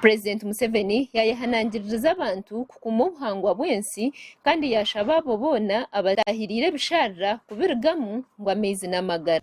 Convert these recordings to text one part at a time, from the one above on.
Purezidenti Museveni yaayehanangiririza abantu kukuuma obuhangwa bw'ensi kandi yaashaba abo boona abataahiriire ebisharara kubirugamu ngu amaizi n'amagara.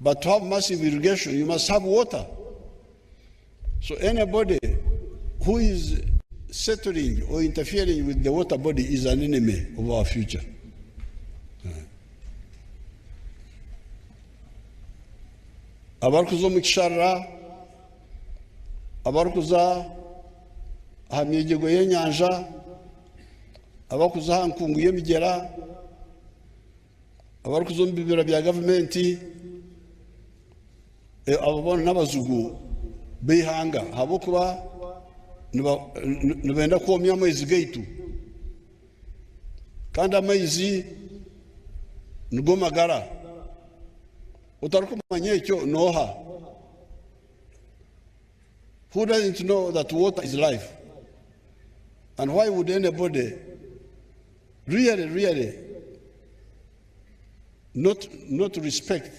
But to have massive irrigation you must have water. So anybody who is settling or interfering with the water body is an enemy of our future. abarikuza omu kisharira abarikuza aha myegyego y'enyanja abarikuza aha nkungu y'emigyera abarikuza omu bibira bya gavumenti, abo boona n'abazigu b'eihanga ahabw'okuba nibenda kwomya amaizi gaitu, kandi amaizi nigo magara. Otarikumanya ekyo n'oha? Who doesn't know that water is life and why would anybody Really really not not respect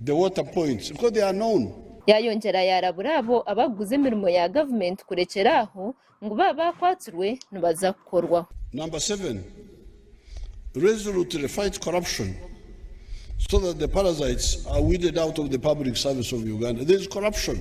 the water points because they are known. Yayongyera yarabura abo abakuguza emirimo ya gavumenti kurekyera aho ngu baaba bakwatsirwe nibaza kukorwaho. Number seven, Resolutely fight corruption so that the parasites are weeded out of the public service of Uganda. There is corruption.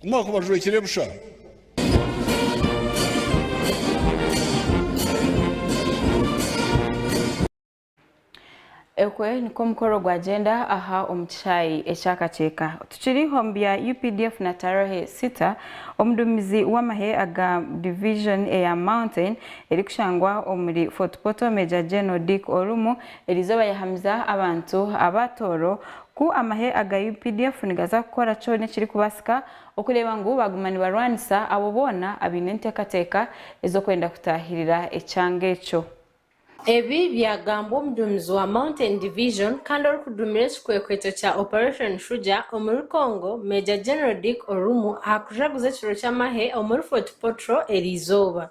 Ku mwakuba jwekire busha. Okwe nikwo omukoro gwagyenda aha omu kishaayi eky'akakyeka. Tukiri omu bya updf na Tarahe Sita, omuduumizi w'amahe aga Division eya Mountain erikushangwa omuri Fort Portal Major General Dick Orumu Eri izooba yahamiza abantu aba Tooro ku amahe aga updf nigaza kukora kyona ekirikubaasika okureeba ngu baaguma nibarwanisa abo boona abaine enteekateeka ez'okwenda kutaahirira ekyanga ekyo. Ebi byagambwa omuduumizi wa Mountain Division kandi orikuduumira ekikwekweto kya Operation Shuja omuri Congo, Major General Dick Orumu aha kujaguza ekiro ky'amahe omuri Fort Portal eri izooba.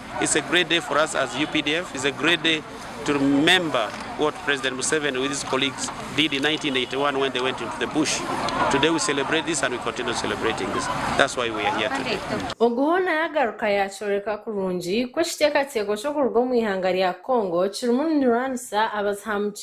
It's a great day for us as updf, it's a great day to remember what President Museveni with his colleagues did in 1981 when they went into the bush. Today we celebrate this and we continue celebrating this. That's why we are here today. Ogu hoona yagaruka yakyoreka kurungi ku ekiteekateeko ky'okuruga omu ihanga rya Congo kirimu nirwanisa abazihamukizi.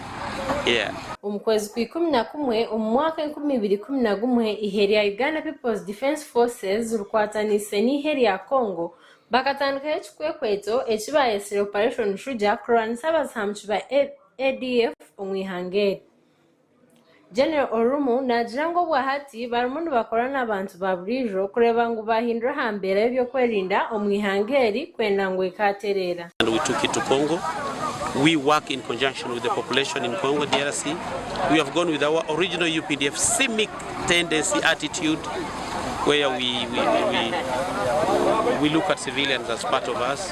Omu kwezi kwa ikumi na kumwe omu mwaka enkumi ibiri ikumi na gumwe, eihe rya Uganda People's Defence Forces rikwatanise n'eihe rya Congo bakatandikaho ekikwekweto eki baayetsire Operation Shuja kurwanisa abazihamuki ba ADF omu ihanga eri. General Orumu naagira ngu obwahati barimu nibakorana n'abantu ba buriijo kureeba ngu baahindura aha mbeera y'ebyokwerinda omu ihanga eri kwenda ngu ekaatereera. and we took it to Congo, we work in conjunction with the population in Congo DRC, we have gone with our original updf simic tendency attitude where we we we we look at civilians as part of us.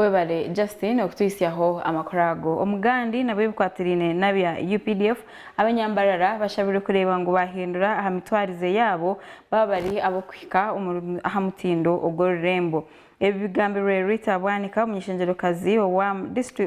Webale Justine okutuhitsyaho amakuru ago. Omugandi nabwo ebikwatiraine nabya updf, abanyambarara bashabirwe kureeba ngu bahindura aha mitwarize yaabo baba bari abokuhika aha mutindo ogw'orurembo. Ebi bigambirwe Rita Bwanika omunyeshengyerokazi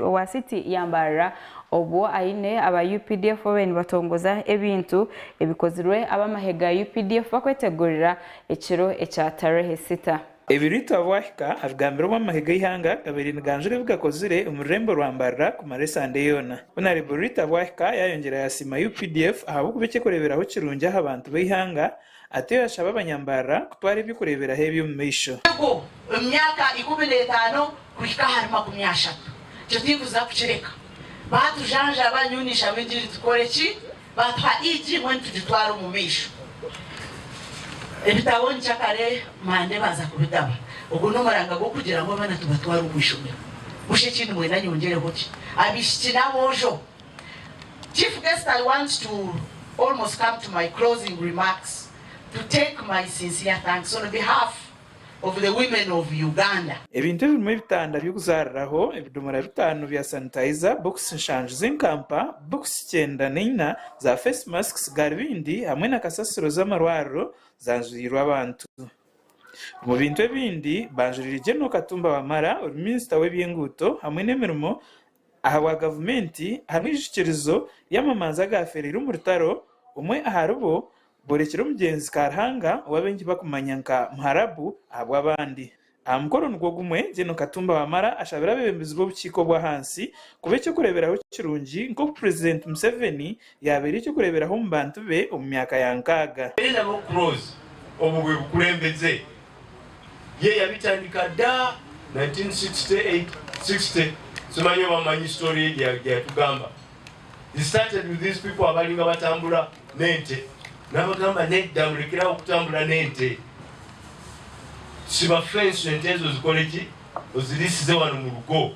owa city ya Mbarara obwo aine aba updf babaire nibatongoza ebintu ebikozirwe abamahe ga updf bakwetegurira ekiro ekya Tarehe Sita. Ebiritu abu ahika abigambira ow'amahe g'eihanga agabaire niganjura ebi gakozire omu rurembo rwa mbarira kumara esande yoona. Honare Buritu abu ahika yaayongyera yaasiima updf ahabw'okuba eky'okureeberaho kirungi aha bantu b'eihanga atyo yaashaba abanyambarira kutwara eby'okureeberaho ebi omu maisho. Ego, omu myaka ikumi n'etaano kuhika ahari makumi ashatu, ekyo tindikuza kukireka. Baatujanjaba, nyowe ninshabe ngu egi tukore ki? Baatuha eigi imwe nitugitwara omu maisho. Ebitabo nikyo akare Mande baaza kubitaba. Ogwo n'omuranga gw'okugira ngu abaana tubatwara omu ishomero. Busha ekindi mwena nyongyereho ki? Abaishiki n'aboojo. Chief Guest I want to almost come to my closing remarks to take my sincere thanks on behalf. of the women of Uganda. Ebintu ebirimu ebitanda by'okuzaariraho, ebidomora bitaano bya sanitizer, bokisi nshanju z'enkampa, bokisi kyenda na ina za face masks, garubindi hamwe na kasasiro z'amarwariro zanjurirwe abantu. Omu bintu ebindi banjuriire General Katumba Wamala, ori minisita w'ebyenguuto hamwe n'emirimo, Ahabwa gavumenti hariho eijukirizo ry'amamanza agaafeereire omu rutaro, omwe aharibo boorekire omugyenzi Karuhanga ou abaingi bakumanya nka Muharabu ahabw'abandi. Aha mukoro nigwo gumwe, Gen Katumba Wamala ashabire abeebembezi b'obukiiko bw'ahansi kuba eky'okureeberaho kirungi nk'oku Purezidenti Museveni Yaabaire eky'okureeberaho omu bantu be omu myaka ya nkaaga. Eleanor Cross obwo bwe bukulembeze ye yabitandika da 1968, 60 simanya oba mumanyi story ye gyeyatugamba he started with these people abalinga batambura n'ente nabagamba nedda murekere aho kutambura n'ente siba fence ente ezo zikore ki oziriisize wanu murugo.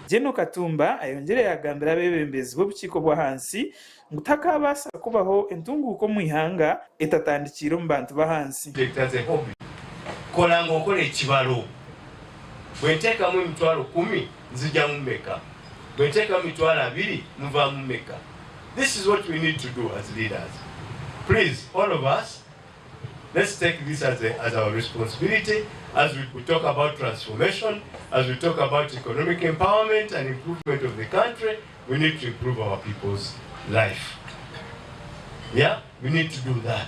Gen Katumba ayongyire yaagambira abeebembezi b'obukiiko bw'ahansi ngu takaabaasa kubaho entunguuka omu ihanga etatandikiire omu bantu b'ahansi. Inspector Zehobi kora ngu nkore ekibaro bwentekamu emitwaro kumi nzijamu meka bwentekamu mitwaro abiri nvamu meka this is what we need to do as leaders please all of us Let's take this as a as our responsibility as we could talk about transformation, as we talk about economic empowerment and improvement of the country, we need to improve our people's life. Yeah, we need to do that.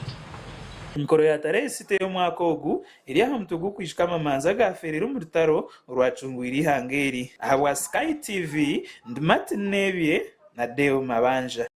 Emikoro ya Tarehe sita ey'omwaka ogu eri aha mutwe gw'okwijuka amamanza agaaferire omu rutaro orwacungwire eihanga eri. Ahabwa Sky TV, ndi Martin Nebye na Deo Mabanja.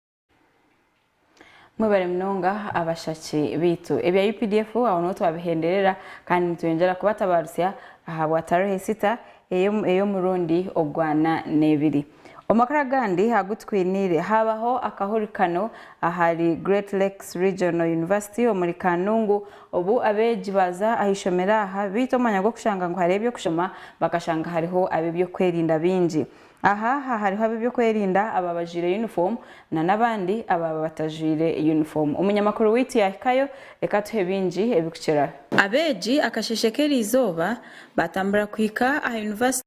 Mwebare munonga abashaki baitu. Ebya updf aho niho twabihenderera kandi nitweyongyera kubatabarutsya ahabwa Tarehe Sita ey'omurundi ogwana n'ebiri. Omu makuru agandi agu tukwiniire, haabaho akahurikano ahari Great Lakes Regional University omuri Kanungu obu abeegi baaza aha ishomero aha baita omwanya gw'okushanga ngu hariho eby'okushoma bakashanga hariho ab'eby'okwerinda baingi. Aha aha hariho ab'eby'okwerinda abaaba bajwaire yunifoomu na n'abandi abaaba batajwaire yunifoomu. Omunyamakuru waitu yaahikayo, reka atuhe bingi ebikukiraho. Abeegi akasheeshe k'eriizooba baatambura kuhika aha yunivasite.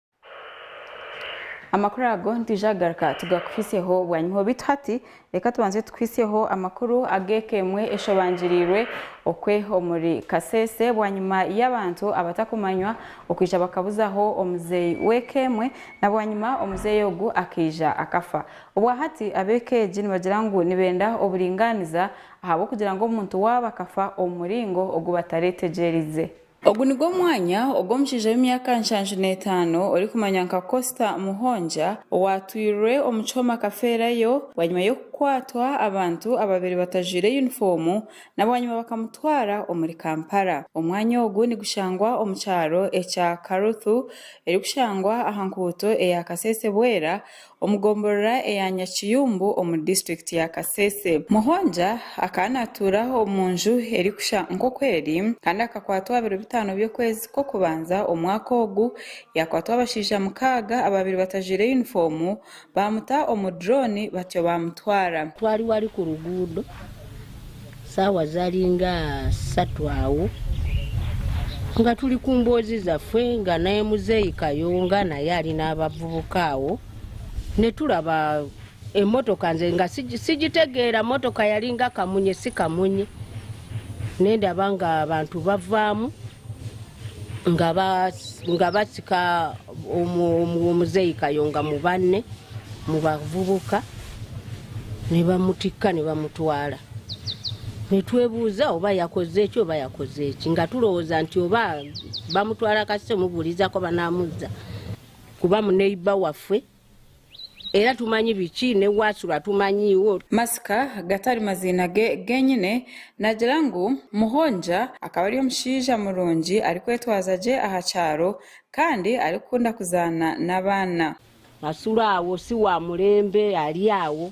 Amakuru ago nitwija kugaruka tugakuhitsyeho bwanyima. Beitu hati reka tubanze tukuhitsyeho amakuru ag'eka emwe eshobangirirwe okwe omuri Kasese bwanyima y'abantu abatakumanywa okwija bakabuzaho omuzeeyi w'eka emwe na bwanyima omuzeeyi ogu akaija akafa. Obwa hati ab'eka egi nibagira ngu nibenda oburingaaniza ahabw'okugira ngu omuntu waabo akafa omu muringo ogu bataretegyereize. Ogu nigwo mwanya ogu omushaija w'emyaka nshanju n'etaano orikumanywa nka Costa Muhonja owaatwirwe omu kyoma akafeerayo bwanyima y'okukwatwa abantu ababaire batajwaire yunifoomu nabwanyima bakamutwara omuri Kampala. Omwanya ogu nigushangwa omu kyaro ekya Karuthu erikushangwa aha nkuuto eya Kasese-Bwera omu gomborora eya Nyakiyumbu omu disiturikiti ya Kasese. Muhonja akaba naatuura omu nju erikushusha nk'oku eri kandi akakwatwa aha biro bitaano by'okwezi kw'okubanza omwaka ogu, yaakwatwa abashaija mukaaga abaabaire batajwaire yunifoomu baamuta omu durooni batyo baamutwara. Twariwo ari ku ruguudo. Saawa zari nga satu aho nga turi ku mboozi zafwe nga naye muzeeyi Kayonga naye ari n'abavubuka aho nituraba emotoka nze nga sigitegeera motoka yari nga kamunye si kamunye nindaba nga abantu bavaamu nga batsika omuzeeyi Kayonga mu bane mu bavubuka nibamutikka nibamutwara. Nitwebuuza oba yakoze eki oba yakoze eki. Nga turowooza nti oba bamutwara akasita omubuurize akoba namuza kuba muneiba waffe era tumanyi biki n'owu acura tumanyiiwo. Masika gatari maziina ge genyine, nagira ngu Muhonja akaba ari omushaija murungi arikwetwaza gye aha kyaro kandi arikukunda kuzaana n'abaana. Acura awo, si wa murembe, ari awo.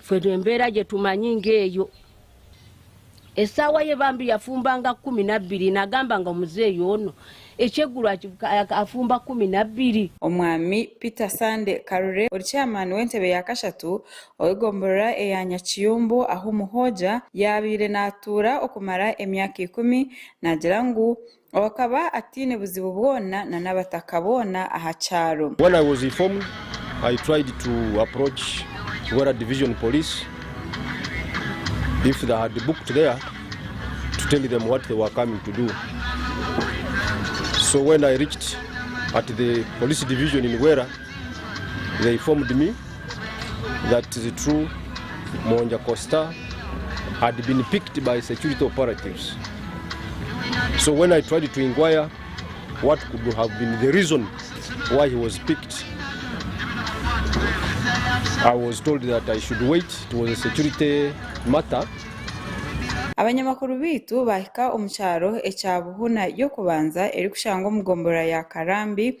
Itwe n'embeera gye tumanyi ng'eyo. Esaawa ye bambi yafumbanga kumi na bbiri, nagambanga omuzeeyi ono eky'eguru afumba kumi na bbiri. Omwami Peter Sande Karure ori Chairman w'entebe ya kashatu ow'egomborora eya Nyakiyumbu ahu Muhooja yaabaire naatuura okumara emyaka ikumi, naagira ngu Ou akaba ataine buzibu bwona na n'abataka boona aha kyaro. When I was informed, I tried to approach Bwera Division Police if they had booked there to tell them what they were coming to do. So when I reached at the Police Division in Bwera, They informed me that it is true Mwongya Costa had been picked by security operatives. So when I tried to inquire what could have been the reason why he was picked, I was told that I should wait, it was a security matter. Abanyamakuru baitu baahika omu kyaro ekya Buhuna y'okubanza erikushangwa omu gombolola ya Karambi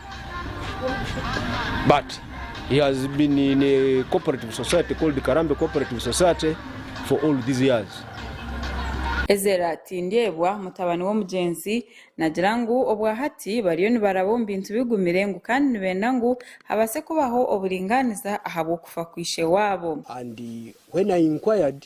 but he has been in a cooperative society called Karambe Cooperative Society for all these years. Ezera Tindyebwa, mutabani w'omugyenzi, naagira ngu obwahati bariyo nibaraba omu bintu bigumire ngu kandi nibenda ngu habaase kubaho oburingaaniza ahabw'okufa kwa ishe waabo. And when I inquired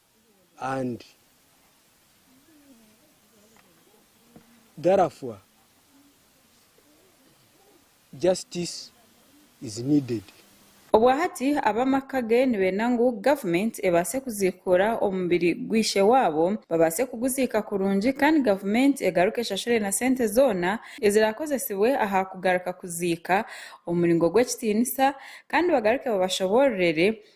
and therefore justice is needed. Obwahati ab'amaka ge nibeenda ngu gavumenti ebaase kuziikuura omubiri gw'eishe waabo babaase kuguziika kurungi kandi gavumenti egaruke eshashure na sente zoona eziraakozesibwe aha kugaruka kuziika omu muringo gw'ekitiinisa kandi bagaruke babashoboororere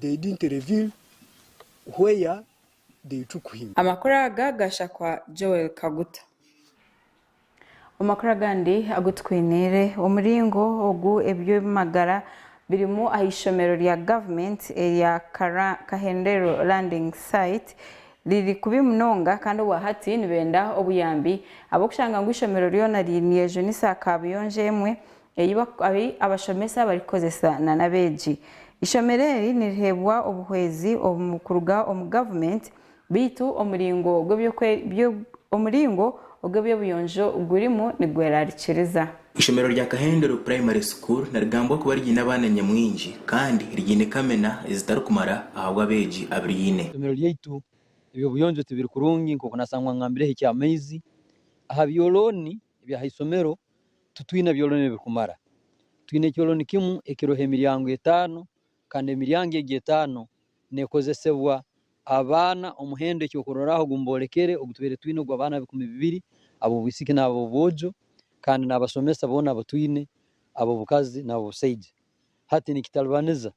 they didn't reveal where they took him. Amakuru aga ga Shakwa Joel Kaguta. Omu makuru agandi agu tukwiniire, omuringo ogu eby'eby'amagara birimu aha ishomero rya government erya Kahendero Landing Site riri kubi munonga kandi obwa hati nibenda obuyambi ahabw'okushanga ngu ishomero ryona ryine enju n'esaakaabuyonjo emwe ei abashomesa barikukozesa nana abeegi. Eishomero eri niriheebwa obuhwezi omu kuruga omu gavumenti beitu omuringo ogw'eby'obuyonjo gurimu nigwerarikiriza. Eishomero rya Kahenderu Primary School nirigambwa kuba riine abaana nyamwingi kandi riine kamina ezitarikumara ahabw'abeegi abiriine. Eishomero ryaitu eby'obuyonjo tibiri kurungi nk'oku naashangwa ngambireho eky'amaizi aha byolooni eby'ahaishomero Titwine byoloni ebirikumara. Twine ekyoloni kimu ekiroho emiryango etaano kandi emiryango egyo etaano neekozesebwa abaana. Omuhendo ekyokurorraho ogu mboolekere ogu tubaire twine ogw'abaana bikumi bibiri ab'obwisiki n'ab'obwojo kandi n'abasomesa boona abu twine ab'obukazi n'ab'obusaija. Hati nikitalibaniza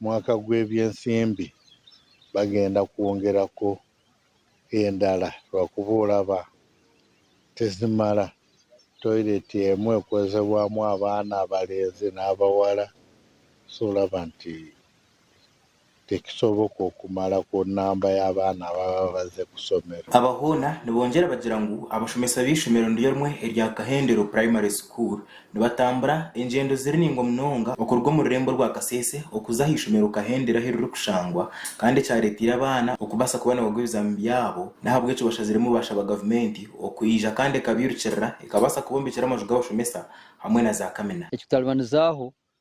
mwaka gw'ebyensimbi bagenda kwongerako endala rwakuba oraba tizimara toilet emwe ekozebwamu abaana abalenzi n'abawara so oraba nti tekisoboka okumaraho namba y'abaana ababa baze kusomero. Aba hoona nibongyera bagira ngu abashomesa b'eishomero niryo rimwe erya Kahendero Primary School Nibatambura engyendo ziri naingwa munonga okuruga omu rurembo rwa Kasese okuza aha ishomero Kahendere ahu ririkushangwa kandi ekyareeteire abaana okubaasa kuba nibagwa ebizaami byabo n'ahabw'ekyo bashaziremu baashaba gavumenti okwija kandi ekabairukirira ekabaasa kubombekyera amaju g'abashomesa hamwe na zaakamina. Ekikutaribanizaho,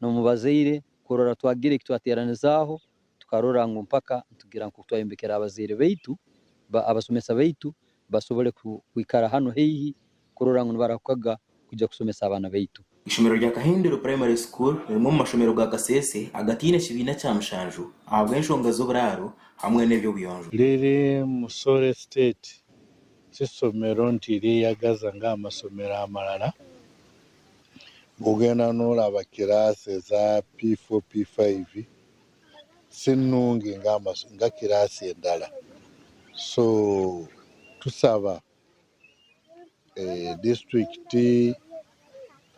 n'omu bazaire kurora twagira eki twateeranizaaho tukarora ngu mpaka nitugira nk'oku twayombekera abazaire baitu, abashomesa baitu bashobore kwikara hanu haihi kurora ngu nibarahukaga kuija kushomesa abaana baitu. Eishomero rya Kahendero Primary School rimwe omu mashomero ga Kasese agataine kibiina kya mushanju ahabw'enshonga z'oburaaro hamwe n'eby'obuyonjo. Riri Musore State, si ishomero nti ryeyagaza nk'aha mashomero amarara Kugenda nooraba kiraasi eza P4, P5 si nungi nka kiraasi endala. So tushaba disiturikiti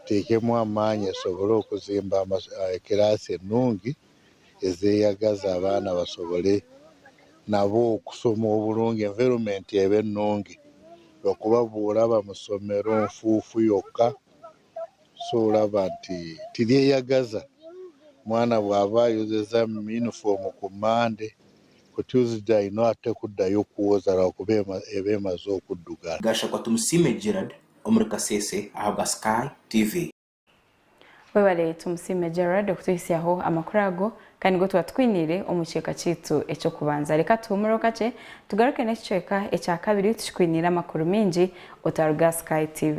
eteekemu amaani esobole kuzimba kiraasi enungi. ezeyagaza abaana basobole nabo kusoma oburungi environment ebe nungi ahakuba bworaba amasomero enfufu yoka so oraba nti teri eyagaza omwana bwaba ayozeza uniform ku Monday ku Tuesday ayine ate kudayo kwoza ahakuba eba emaze okudugana. Gashakwa Tumusiime Gerald omuri Kasese ahabwa Sky TV. Webale Tumusiime Gerald okutuhitsyaho amakuru ago kandi nigo twaba tukwiniire omu kicweka kyaitu eky'okubanza. Reka tuhumureho kakye tugaruke n'ekicweka ekya kabiri tukikwiniire amakuru maingi otaruga aha Sky TV.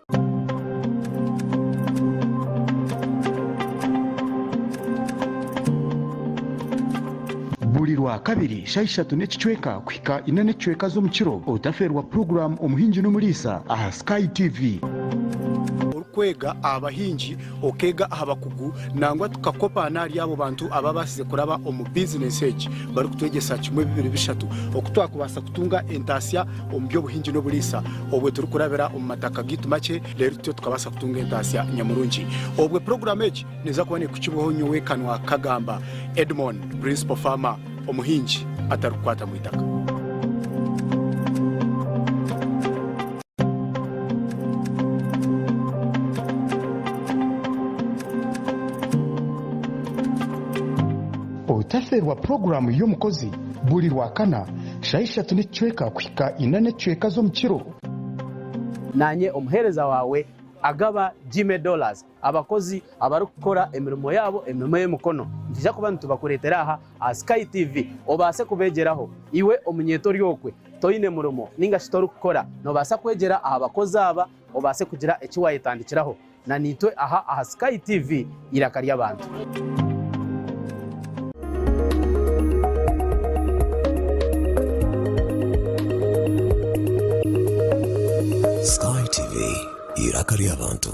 Buri Rwakabiri shaaha ishatu n'ekicweka kuhika ina n'ekicweka z'omu kiro otafeerwa puroguraamu Omuhingi n'Omuriisa aha Sky TV. Orikwega aha bahingi, okeega aha bakugu nangwa tukakopa n'ahari abo bantu abaabaasize kuraba omu bizineesi egi barikutwegyesa kimwe, bibiri, bishatu oku twakubaasa kutunga entaasya. omu by'obuhingi n'oburiisa. Obwe turikurabira omu mataka gaitu makye, reero tutyo tukabaasa kutunga entaasya nyamurungi. Obwe puroguraamu egi neeza kuba neekukibwaho nyowe Kanwakagamba Edmon, Principal Farmer, omuhingi atarikukwata mu itaka. Otaferwa puroguraamu y'omukozi buri Rwakana. Shaaha ishatu n'ekicweka kuhika ina n'ekicweka z'omu kiro. Naanye omuheereza waawe agaba gyme dollars abakozi abarikukora emirimo yaabo, emirimo y'emikono. Nitwija kuba nitubakureetera aha aha Sky TV obaase kubeegyeraho. Iwe omunyeeto ori okwe, toine murimo nainga shi torikukora, noobaasa kwegyera aha bakozi aba obaase kugira eki waayetandikiraho. Na naitwe aha aha Sky TV eiraka ry'abantu. Sky TV eiraka ry'abantu.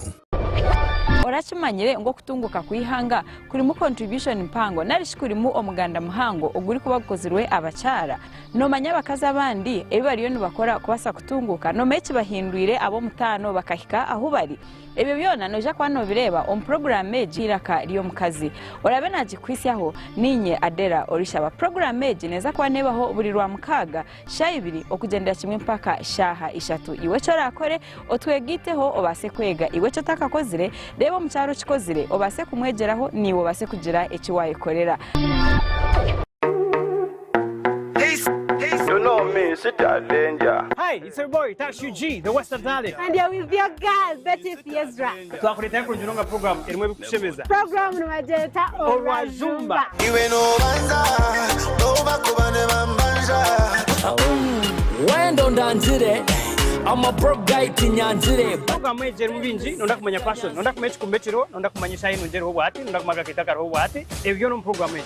Orakimanyire ngu okutunguuka kw'eihanga kurimu contribution mpango nari shi kurimu omuganda muhango ogurikuba gukozirwe abakyara? Noomanya abakazi abandi ebi bariyo nibakora kubaasa kutunguuka? Noomanya ekibahindwire ab'omutaano bakahika ahu bari? Ebyo byona noija kuba noobireeba omu puroguraamu egi y'eiraka ry'omukazi. Oraabe naagikuhitsyaho, niinye Adela orishaba. Puroguraamu egi neeza kuba neebaho buri Rwamukaaga shaaha ibiri okugyendera kimwe mpaka shaaha ishatu. Iwe eki oraakore, Otwegaiteho obaase kwega iwe eki otakakozire, reeba omukyara okikozire obaase kumwegyeraho naiwe obaase kugira eki waayekorera. kushemeza. Puroguramu nibagyeta Orwajumba. Iwe nobanza noba kuba nibambanja. Wendo ndangire I'm a broke guy kinyanzire. Puroguramu egi erimu bingi nonda kumanya fashion nonda kumanya ekikumba ekiriho nonda kumanya eshaaha enungi eriho bwati nonda kumanya akakeito akariho bwati ebyo byona omu puroguramu egi.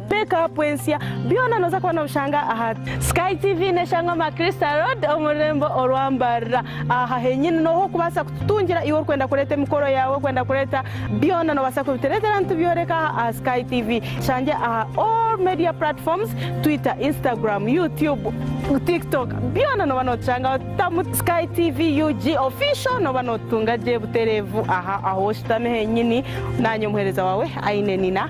Peka Pwensya, byona nooza kuba nobishanga aha. Sky TV neshangwa Maclister Road omu rurembo orwa Mbarara. Aha henyini nohu orikubaasa kututungira iwe orikwenda kureeta emikoro yaawe, orikwenda kureeta byona nobaasa kubitureetera nitubyoreka aha aha Sky TV. Tushange aha all media platforms, Twitter, Instagram, YouTube, Tiktok, byona noba notushangaho. Tamu Sky TV UG Official noba notutunga gye butereevu aha ahu oshutami henyini. Naanye omuhereza waawe Ainenina.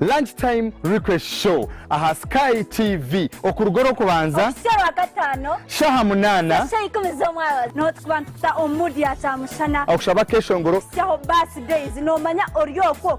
Lunch Time Request Show aha Sky TV okuruga orw'okubanza kuhitsya Rwakataano shaaha munaana kuhitsya shaaha ikumi z'omwabazyo. Niho turikuba nitukuta omu mood ya kyamushana. Okushaba akeshongoro. Kuhitsyaho birthdays noomanya ori okwo.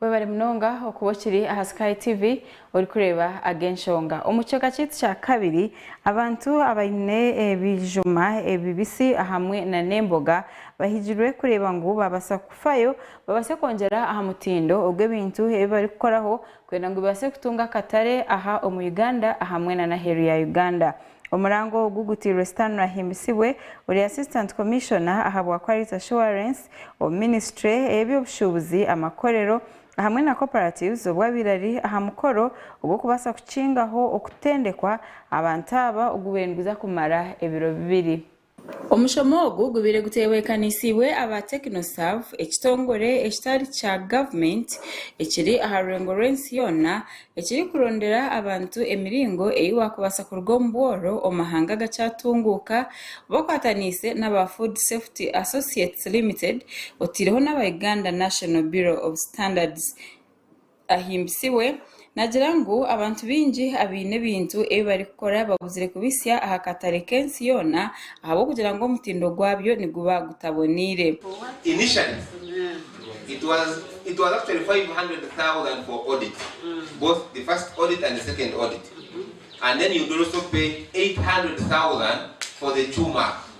webare munonga okuba okiri aha sky tv orikureeba ag'enshonga omu kicweka kyaitu kya kabiri abantu abaine ebijuma ebibisi ahamwe na n'emboga bahigirwe kureeba ngu babaasa kufayo babaase kwongyera aha mutindo ogu ebintu ebi barikukoraho kwenda ngu bibaase kutunga akatare aha omu Uganda ahamwe na n'aheeru ya Uganda. Omurango ogu gutairwe sitaani orahimbisibwe ori Assistant Commissioner aha bwa Quality Assurance omu minisitule ey'eby'obushuubuzi, amakorero ahamwe na cooperatives obu abaire ari aha mukoro ogw'okubaasa kukingaho okutendekwa abantu aba ogu baine niguza kumara ebiro bibiri. Omushomo ogu gubaire gutehwekanisiibwe aba Technoserve, ekitongore ekitari kya gavumenti ekiri aha rwengo rw'ensi yoona ekirikurondera abantu emiringo ei waakubaasa kuruga omu bworo omu mahanga agakyatunguuka bakwataniise n'aba Food Safety Associates Limited oteireho n'aba Uganda National Bureau of Standards. ahimbisibwe naagira ngu abantu baingi abaine ebintu ebi barikukora babuzire kubitsya aha katare k'ensi yoona ahabw'okugira ngu omutindo gwabyo niguba gutaboneire.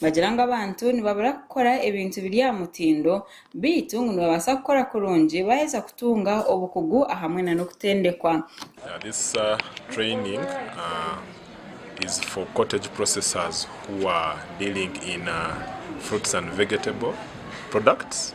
Nibagira ngu abantu nibabura kukora ebintu biri aha mutindo, beitu ngu nibabaasa kukora kurungi baaheza kutunga obukugu ahamwe na n'okutendekwa. This training is for cottage processors who are dealing in fruits and vegetable products.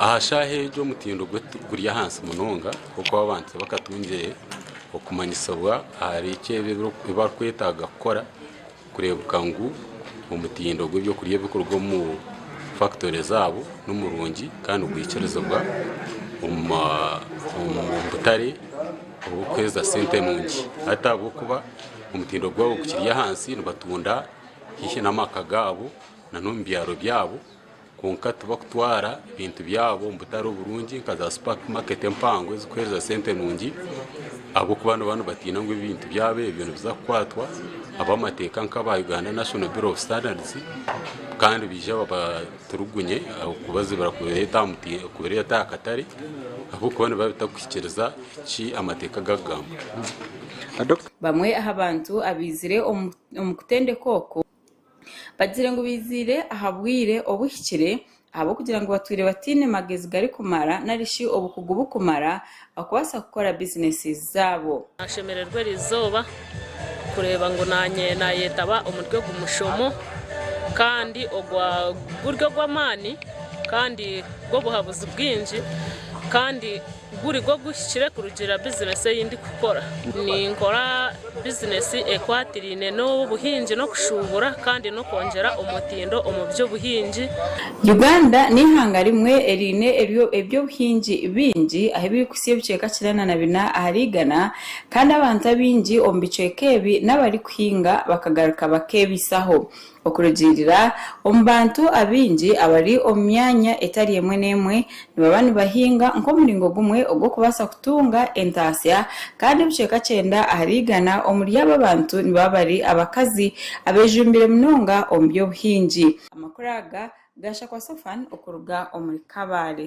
Aha shaaha egyo omutindo guri ahansi munonga ahabw'okuba abantu tibakatungire okumanyisibwa ahari eki ebi barikwetaaga kukora kureebeka ngu omutindo gw'eby'okurya ebirikuruga omu fakitori zaabo ni murungi kandi nigwikirizibwa omu ma omu butare oburikuheereza sente nungi. Hati ahabw'okuba omutindo gwabo gukiri ahansi nibatunda haihi n'amaka gaabo nan'omu byaro byabo. kwonka tibakutwara bintu byabo omu butare oburungi nka za supper market empango ezikuhereza sente nungi ahabwokuba nibaba nibatiina ngu ebintu byabo ebyo nibiza kukwatwa abamateeka nka aba Uganda National Bureau of Standards kandi baije babaturugunye ahabwokubazibira kubireeta aha katare ahabwokuba nibiba bitakuhikiiriza eki amateeka gakugamba. Bamwe aha bantu abaizire omu kutendeka okwo Bagire ngu baiziire aha bwire obuhikire ahabw'okugira ngu batwire bataine magezi garikumara nari shi obukugu bukumara okubaasa kukora bizineesi zaabo. Naashemererwa erizooba kureeba ngu naanye naayetaba omuri ogu mushomo kandi ogwa guri ogw'amaani kandi gw'obuhabuzi bwingi kandi Guri gwo guhikire kurugiirira bizineesi ei ndikukora. Ninkora bizineesi ekwatiraine n'obuhingi n'okushuubura kandi n'okwongyera omutindo omu by'obuhingi. Uganda n'eihanga rimwe eriine eby'obuhingi bingi ahu ebirikuhitsya ebicweka kinaana na bina ahari igana kandi abantu abaingi omu bicweka ebi n'abarikuhinga bakagaruka bakeebaisaho. Okurugiirira omu bantu abaingi abari omu myanya etari emwe n'emwe, nibaba nibahinga nk'omuringo gumwe ogw'okubaasa kutunga entaasya, kandi ebicweka kyenda ahari igana omuri abo abantu nibaba bari abakazi abeejumbire munonga omu by'obuhingi. Amakuru aga gaashakwa Sophane okuruga omuri Kabale.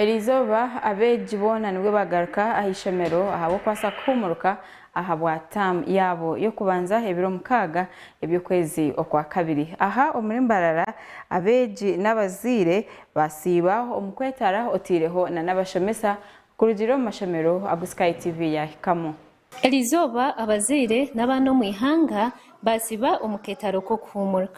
Erizooba abeegi boona nibwo bagaruka aha ishomero ahabw'okubaasa kuhuumuruka ahabwa term yaabo y'okubanza ebiro mukaaga eby'okwezi okwa kabiri. Aha omuri Mbarara abeegi n'abazaire Basiiba omu kwetara otaireho na n'abashomesa kurugiirira omu mashomero agu Sky TV yaahikamu. Erizooba abazaire n'abaana omu ihanga basiiba omu keetaro k'okuhuumurq.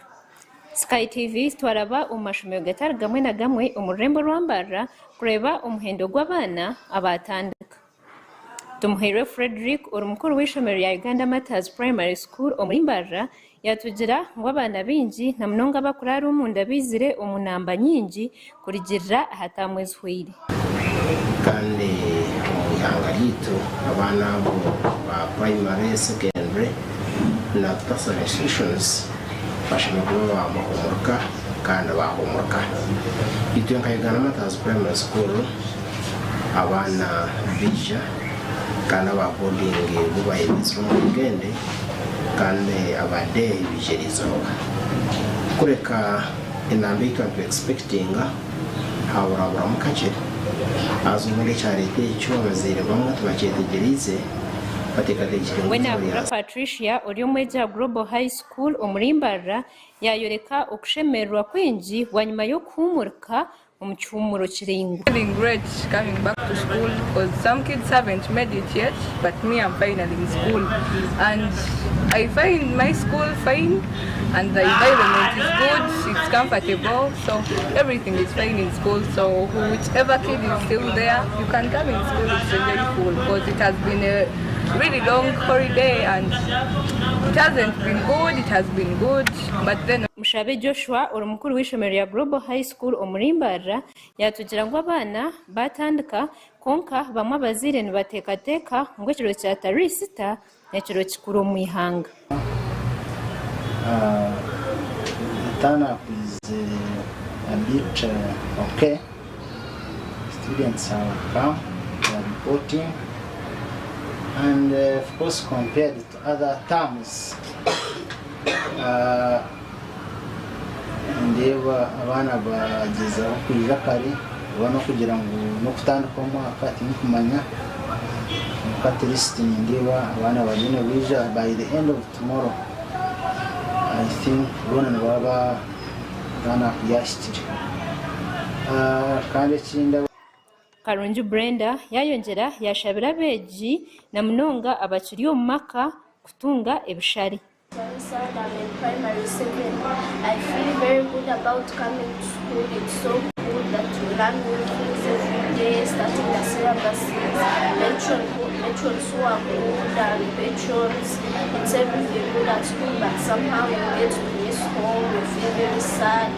Sky TV twaraba omu mashomero gatari gamwe na gamwe omu rurembo rwa Mbarara kureeba omuhendo gw'abaana abaatandika. Tumuhairwe Fredrick ori mukuru w'eishomero rya Uganda Martyrs Primary School omuri Mbarara yatugira ngu abaana baingi na munonga abakuraara omunda baizire omu namba nyingi kurigirira ahataamu ezihweire. Kandi omu ihanga ryaitu abaana abo ba primary, secondary na tertiary institutions bashemereire kuba baahumuruka kandi baahumuruka. Itwe nka Uganda Martyrs Primary School, abaana baija kandi aba boarding bo bayemeeza omu rugende kandi aba day baija erizooba kureka enamba ei twaba nitwe expectinga haburaburamu kakye haza obundi ekyareta ekyo abazaire bamwe tibakyetegyereize batekategekire ngu eizooba Wenabura ryaza. Patricia ori omwegi aha Global High School omuri Mbarara yayoreka okushemererwa kwingi bwanyima y'okuhumurika omu kihuumuro kiraingwa. Mushabe Joshua ori mukuru w'eishomero rya Global High School. School omu Limbarira yaatugira ngu abaana baatandika kwonka bamwe abazaire nibateekateeka ngu ekiro kya Tariq Isita n'ekiro kikuru omu ihanga. Other terms nindeeba abaana bagyezaho kwija kare oba n'okugira ngu n'okutandika omwaka tindikumanya kwonka at least nindeeba abaana bariyo nibaija by the end of tomorrow I think boona nibaba turn up yahikire kandi ekindi. Karungi Brenda yaayongyera yaashabira abeegi na munonga abakiri omu maka kutunga ebishare.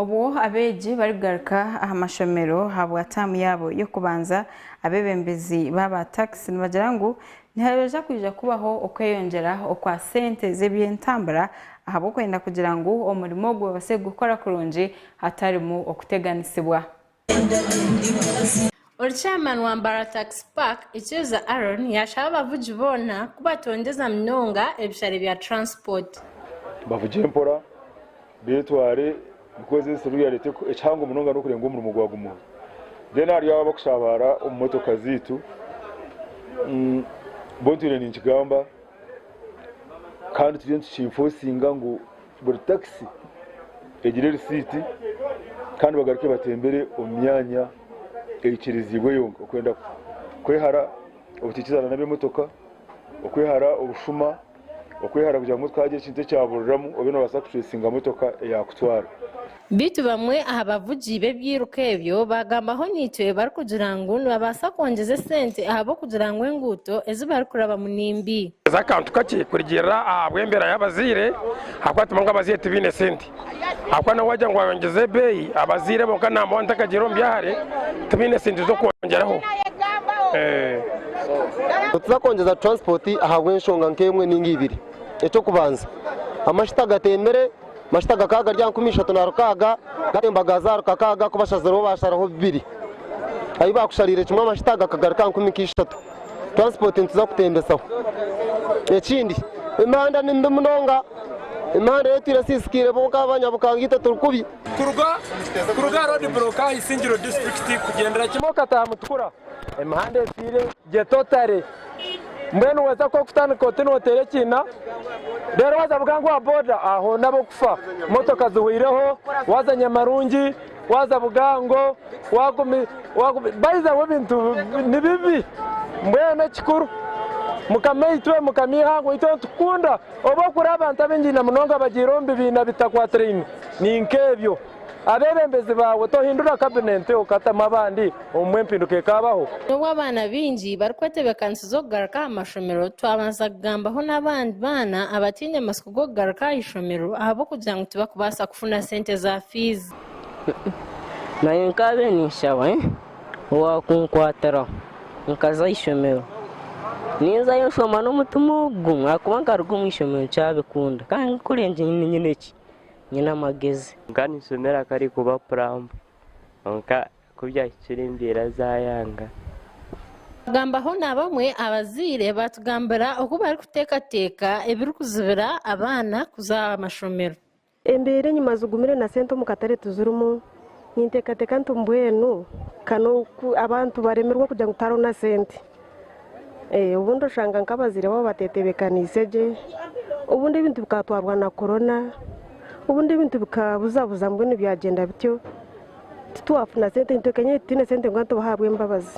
Obwo abeegi barikugaruka aha mashomero ahabwa taamu yaabo y'okubanza, abeebembezi baaba takisi nibagira ngu nihabaija kwija kubaho okweyongyera okwa sente z'ebyentambura ahabw'okwenda kugira ngu omurimo ogwo babaase kugukora kurungi hatarimu okuteganisibwa. Orichairman wa Mbarara Tax Park, Ikyeza Aaron yashaba abavugi boona ku batongyeza munonga ebishare bya transport. Bavugye mpora, betware because ensi eriyo yareta ekihango munonga nokurenga omurimo gwagumaho. Then hariyo abo abakushabara omu motoka zeitu, bo ntwine ninkigamba kandi turiyo nituki enforcinga ngu. Buri takisi egire erisiiti kandi bagaruke batembere omu myanya eikiriziibwe yonka okwenda kwehara obutaikirizana n'ab'emotoka, okwehara obushuma, okwehara kugira ngu motoka haagira ekintu ekyaburiramu obe noobaasa kutureesinga motoka eyaakutwara. Beitu bamwe aha bavugi b'ebiiruka ebyo baagambaho naitwe barikugira ngu nibabaasa kwongyeza esente ahabw'okugira ngu enguuto ezi barikurabamu ni mbi. Eza akantu kakye kurugiirira ahabw'embeera y'abazaire ahabw'okuba tumanya ngu abazaire tibaine sente ahabw'okuba nawe waagira ngu wayongyeza ebeeyi abazaire bo nka naamba wani takagiire omu byahare tibaine sente z'okwongyeraho. Nituza kwongyeza transport ahabw'enshonga nk'emwe ninga ibiri. Eky'okubanza, amashita gatembire. Mashita gakaba gari aha nkumi ishatu na rukaaga, gatembaga zaaro kakaaga ku bashazirweho baasharaho bibiri. Ahi baakushariire kimwe amashita gakagaruka aha nkumi nk'ishatu. Transport nituza kutembetsaho. Ekindi, emihanda ni mibi munonga. Emihanda ey'otwire esiisikaire bo nk'abanyabukanga itwe turi kubi. Kuruga kuruga aha roadblock aha Isingiro District kugyendera kimwe okataaha Mutukura. Emihanda etwire Gye totale. Mbwenu weza ku okutandika oti noteera ekiina reero waza avuga ngu owa boda aho n'ab'okufa. Motoka zihweireho, waza Nyamarungi, waza Bugango, wagumi wagumi by the way ebintu ni bibi. Mbwenu ekikuru mukamaitwe mukama eihanga oitu nitukukunda obu orikureeba abantu abaingi namunonga abagiire omu bibiina bitakwatiraine ni nk'ebyo. Abeebembezi baawe tohindura kabinenti okatamu abandi omu empinduka ekaabaho? N'obu abaana baingi barikwetebeekanisiza okugaruka aha mashomero, twabaasa kugambaho n'abandi baana abataine matsiko g'okugaruka aha ishomero ahabw'okugira ngu tibakubaasa kufuna sente za fiizi. Naanye nkaabaire ninshaba owaakunkwatiraho nkaza aha ishomero. Ninzayo nshoma n'omutima ogu gumwe ahakuba nkaruga omu ishomero nkyabikunda. Kandi nkakura ngira ngu nyine ki? nyine amagezi. Nkaninshemera ku arikuba purampu, kwonka ku byahikire embeera zaayanga. Twagambaho na bamwe abazaire baatugambira oku barikuteekateeka ebirikuzibira abaana kuza aha mashomero. Embeera enyima zigumire na sente omu katare tizirimu. Ninteekateeka nti mbwenu ka n'oku abantu baremerwa kugira ngu tihariho na sente. Ee, obundi oshanga nk'abazaire baabo bateetebeekaniise gye, obundi ebintu bikatwarwa na korona, obundi ebintu bikabuzabuza mbwenu byagyenda bityo, titwafuna sente, nitwekenya ngu titwine sente ngu abantu bahabwe embabazi.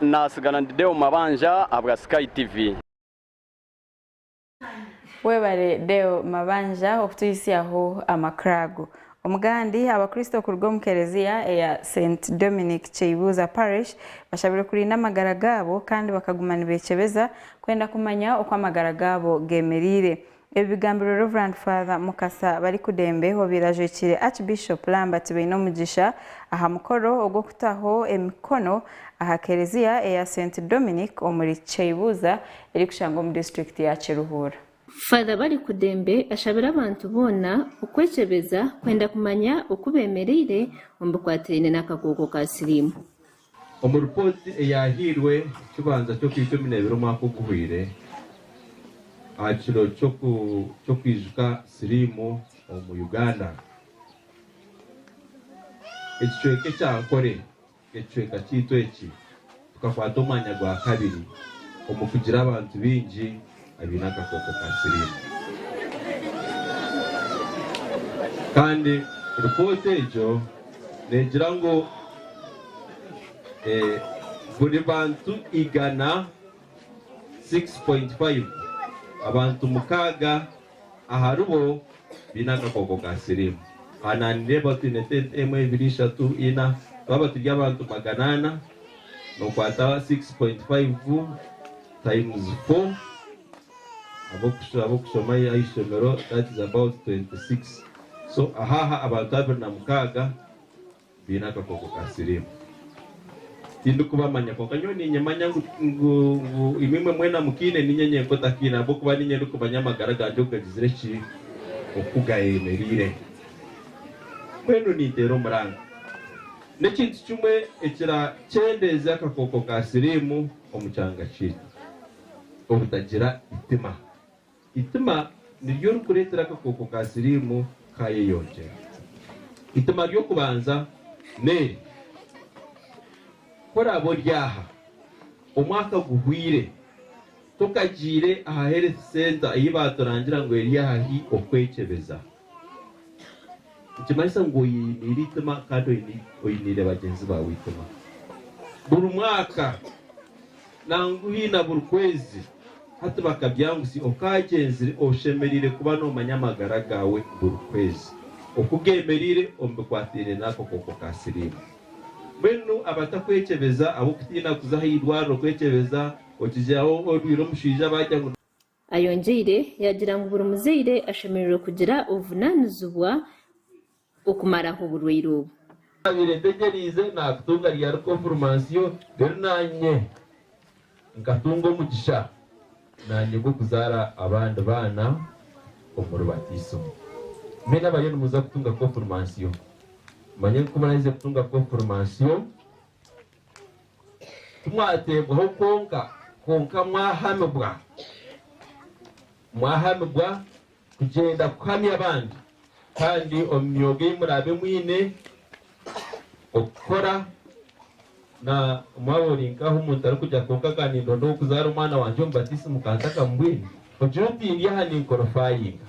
Nasigara ndi Deo Mabanja ahabwa Sky TV. Webare Deo Mabanja okutuhitsyaho amakuru ago. Omugandi, Abakristo okuruga omu Kelezia eya St Dominic Kyeibuuza Parish bashabirwe kurinda amagara gaabo kandi bakaguma nibekyebeza kwenda kumanya oku amagara gaabo gemereire. Ebi bigambirwe Rev. Father Mukasa Barikudembe obaire ajwekyire Archbishop Lambert Bainomugisha aha mukoro ogw'okutaho emikono aha Kereziya eya St Dominic omuri Kyaibuuza erikushangwa omu disiturikiti ya Kiruhura. Father Barikudembe ashabire abantu boona okwekyebeza kwenda kumanya oku bemereire omu bikwatiraine n'akakooko ka siriimu. Omu ripooti eyaahairwe ekibanza ky'Okwiikumi n'ebiri omwaka oguhweire aha kiro ky'okwijuka siriimu omu Uganda, ekicweka ekya Ankore n'ekicweka kyaitu eki tukakwata omwanya gwa kabiri omu kugira abantu baingi. abaine akakooko ka siriimu. Kandi ripooti egyo neegira ngu buri bantu igana, 6.5, abantu mukaaga aharibo baine akakooko ka siriimu. Aha naanireeba twine tente emwe, ibiri, ishatu, ina, twaba turi abantu magana ana, nookwata 6.5. Times for Ab'okushoma Ah'eishomero that is about 26 so ah'aha abantu abiri na mukaaga baine akakooko ka siriimu. Tindikubamanya kwonka nyowe niinyemanya ngu ngu ngu imwimwe mwena mukaine niinye nyenka otakaine ahabw'okuba niinye ndikumanya amagara gangye oku gagizire ki oku gayemereire. Mbwenu ninteera omuranga n'ekintu kimwe ekira kyendeeze akakooko ka siriimu. omu kyanga kyaitu obutagira itima. Itima niryo rikureetera akakooko ka siriimu kaayeyongyera. Itima ry'okubanza n'eri, Ku oraabe ori aha, omwaka guhwaire, tokagiire aha health centre ei baaturangira ngu eri ahahi okwekyebeza. Nikimanyisa ngu oiniire eitima kandi oiniire bagyenzi baawe eitima. Buri mwaka nangwa hi na buri kwezi, hati bakabyangutsya okaagyenzire, oshemereire kuba noomanya amagara gaawe buri kwezi, oku geemereire omu bikwataine n'akakooko ka siriimu. Mbwenu abatakwekyebeza, ab'okutiina kuza aha irwariro kwekyebeza, okigiraho orwaire omushaija baagira ngu. Ayongyeire yaagira ngu buri muzaire ashemereire kugira obuvunaanizibwa okumaraho oburwaire obu. Naabaire ntegyereize naakutunga ryari konfurimansiyo reero naanye nkatunga omugisha naanye gw'okuzaara abandi baana omuri batiisimu. Mbwenu abariyo nimuza kutunga konfurimansiyo mumanye ngu kumuraahize kutunga konfurimansiyo Timwateebwaho kwonka, kwonka mwahamibwa, mwahamibwa kugyenda kuhamya abandi, kandi omu myooga ei muraabe mwine okukora, na mwaba ori nkaho omuntu arikugya kwonka aga nindonda ow'okuzaara omwana wangye omu batiisimu ka ntakamubwine, Ogira oti, Ndi aha ninkorofaayinga.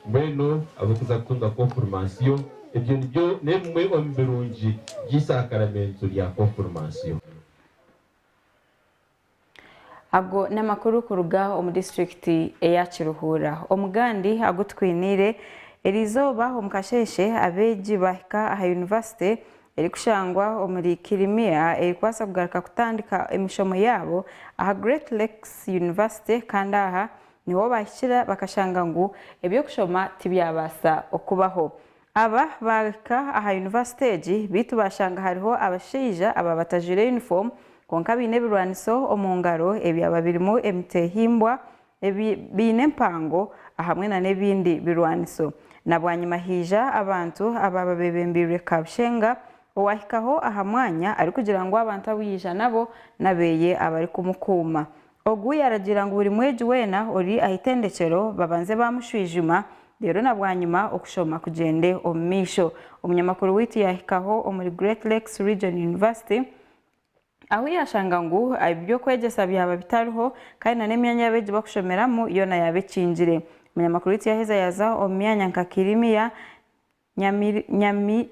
Mbwenu ab'okuza kutunga konfurimansiyo, ebyo nibyo n'ebimwe omu birungi by'eisakaramentu rya konfurimansiyo. Ago n'amakuru kuruga omu disiturikiti eya Kiruhura. Omugandi agu tukwiniire, Erizooba omu kasheeshe abeegi baahika aha yunivasite erikushangwa omuri Kirimia erikubaasa kugaruka kutandika emishomo yaabo aha Great Lakes University kandi aha niho baahikira bakashanga ngu eby'okushoma tibyabaasa okubaho. Aba baahika aha yunivasite egi beitu baashanga hariho abashaija aba batajwaire yunifoomu kwonka baine ebirwaniso omu ngaro ebyaba birimu emiteehimbwa ebi biine empango ahamwe na n'ebindi birwaniso na bwanyima haija abantu abaaba bebembeirwe Kabushenga owahikaho aha mwanya arikugira ngu abantu abu yaija nabo n'abeeye abarikumukuuma. Ogu yaragiira ngu buri mwegi weena ori aha itendekyero babanze baamushwijuma reero na bwanyima okushoma kugyende omu maisho. Omunyamakuru waitu yahikaho omuri Great Lakes Region University, Ahu yaashanga ngu ebi by'okwegyesa byaba bitariho, kandi na n'emyanya y'abeegi bakushomeramu yoona yaaba ekingire. Munyamakuru waitu yaaheza yaaza omu myanya nka Kirimia,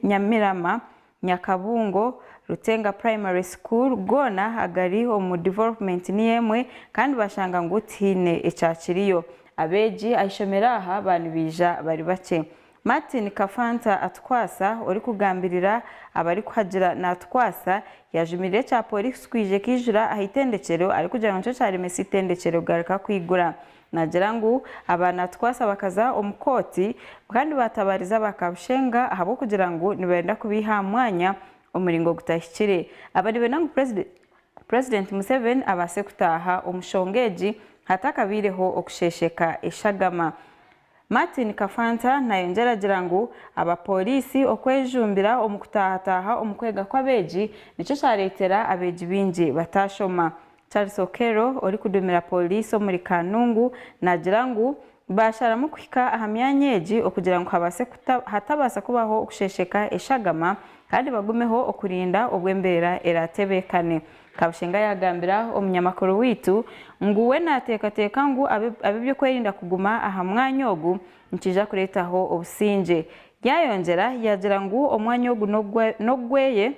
Nyamirama, Nyakabungo, Rutenga Primary School goona agari omu Development niyo emwe kandi baashanga ngu tihaine ekyakiriyo. Abeegi aha ishomero aha baaba nibaija bari bakye. Martin Kafanta Atukwasa orikugambirira abarikuhagira Naatukwasa yaajumirire ekya pooriisi kwija ekaijura aha itendekyero arikugira ngu nikyo kyaaremesa eitendekyero kugaruka kwigura. Naagira ngu aba Naatukwasa bakaza omu kooti kandi baatabaariza aba Kabushenga ahabw'okugira ngu nibenda kubaiha aha mwanya omu muringo gutahikire. Aba nibenda ngu Purezidenti Museveni abaase kutaaha omu shonga egi hatakabaireho okusheesheka eshagama. Martin Kafanta nayongyera agira ngu abapooriisi okwejumbira omu kutaahataaha omu kwega kw'abeegi nikyo kyareetera abeegi baingi bataashoma. Charles Okello orikuduumira pooriisi omuri Kanungu naagira ngu baasharamu kuhika aha myanya egi okugira ngu habaase hatabaasa kubaho okushesheka eshagama kandi bagumeho okurinda obu embeera eraatebeekane. Kabushenga yaagambira omunyamakuru waitu ngu we naateekateeka ngu ab'eby'okwerinda kuguma aha mwanya ogu nikiija kureetaho obusingye. Yaayongyera yaagira ngu omwanya ogu n'ogweye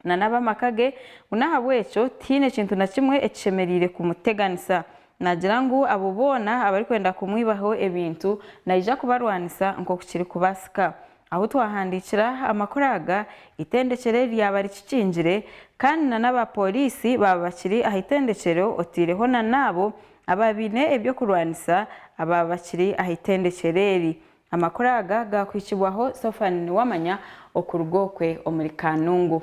nana ab'amaka ge ngu n'ahabw'ekyo tihaine kintu na kimwe ekishemereire kumuteganisa. Naagira ngu abo boona abarikwenda kumwibaho ebintu naija kubarwanisa nk'oku kirikubaasika. Ahu twahandiikira amakuru aga, eitendekyero eri ryaba rikikingire kandi na n'abapooriisi baaba bakiri aha itendekyero otaireho na n'abo abaaba baine eby'okurwanisa abaaba bakiri aha itendekyero eri. Amakuru aga gaakuhikibwaho Sophanie Nuwamanya okuruga okwe omuri Kanungu.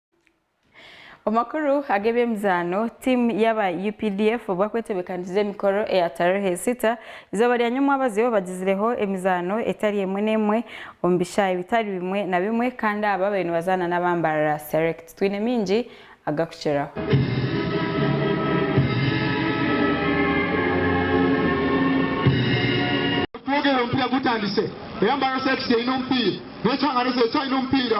Omu makuru ag'eby'emizaano, tiimu y'aba updf obwa kwetebekaniza emikoro eya Tarehe Sita, eizooba rya nyomwabazyo bagizireho emizaano etari emwe n'emwe omu bishaayi bitari bimwe na bimwe kandi aba bariyo nibazaana n'abambarara Select. Twine maingi agakukiraho. Twogere omupiira gutandise. Eyambarara Select eine omupiira. N'ekihangano kyayo kyine omupiira.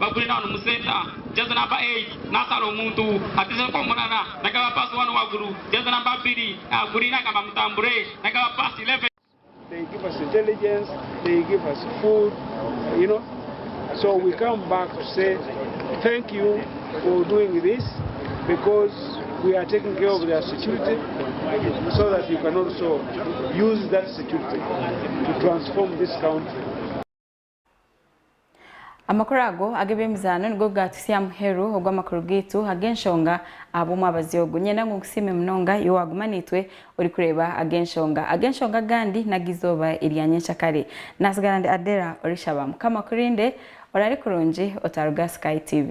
Bagure na Home Centre, Jaaja namba eiti, Naasara omuntu, Hatiza enkoomorana, Nagaba Paasi Waanu Waguru, Jaaja namba abiri, Aha Guriini Agamba Mutambure, Nagaba Paasi Ileveni. They give us intelligence, they give us food, you know, so we come back to say thank you for doing this because we are taking care of their security so that you can also use that security to transform this country. Amakuru ago ag'eby'emizaano nigo gaatutsya muheru ogw'amakuru gaitu ag'enshonga aha bw'omwabazi ogu. Niinyenda ngu nkusiime munonga iwe waaguma naitwe orikureeba ag'enshonga. Ag'enshonga agandi n'ag'eizooba erya nyenkyakare. Naatsigara ndi Adela orishaba. Mukama akurinde. Oraare kurungi otaaruga aha Sky TV.